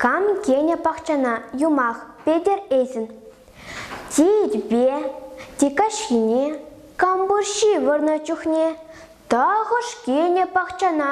Кам кӗнӗ пахчана юмах Петӗр Эсин? Титпе, Тикаҫхине, Кампурҫи вырнӑ чухне тахӑш кӗнӗ пахчана?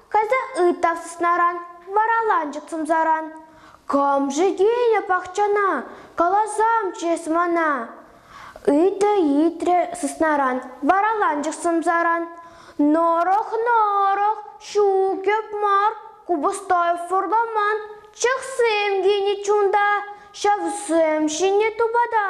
Кайса ыйттав сыснаран, вара ланчӑк сӑмсаран. Кам-ши килнӗ пахчана, каласам чес мана. Ыйтрӗ-ыйтрӗ сыснаран, вара ланчӑк сӑмсаран. Норох-норох, ҫукӗп мар, купӑстай фурламан, чӑхсем килнӗ чунта, ҫавсем ҫинӗ тупата.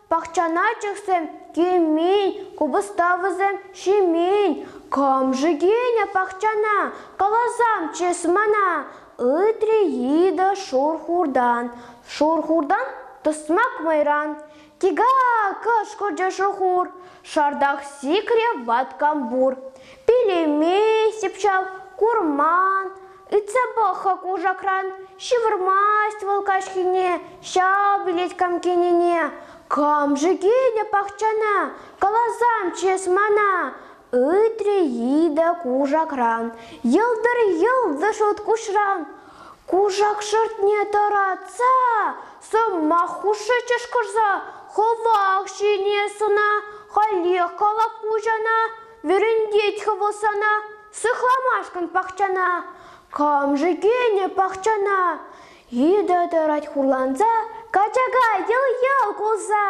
Пахчана чӑхсем кӳмин, купӑставӑсем ҫимин, кӑмши кӳнӗ пахчана, каласам чыс мана, ыйтрӗ йытӑ шур-хуртан. Шур-хуртан тӑсмак мӑйран. Тига! кӑшкӑрчӗ шур-хур, шартах сикрӗ ваткам пур. Пелеме, сипчав, курман, Ыйтса пӑх-ха кушакран, ҫывӑрмасть вӑл каҫхине ҫав билет кам килнине. Кам-ши килнӗ пахчана, каласамччӗ эс мана. Ыйтрӗ Ида кушакран, йӑлтӑр йӑлтӑ шут куҫран. Кушак шӑртне тӑратса, сӑмах хушши чӑшкӑрса, хӑвах ҫине сӑна, халех калап куҫана. Вӗрентет хӑвӑ сана сыхламашкӑн пахчана. Кам-ши кӗнӗ пахчана? Йытӑ тӑрать хурланса, качака йӑл-йӑл кулса.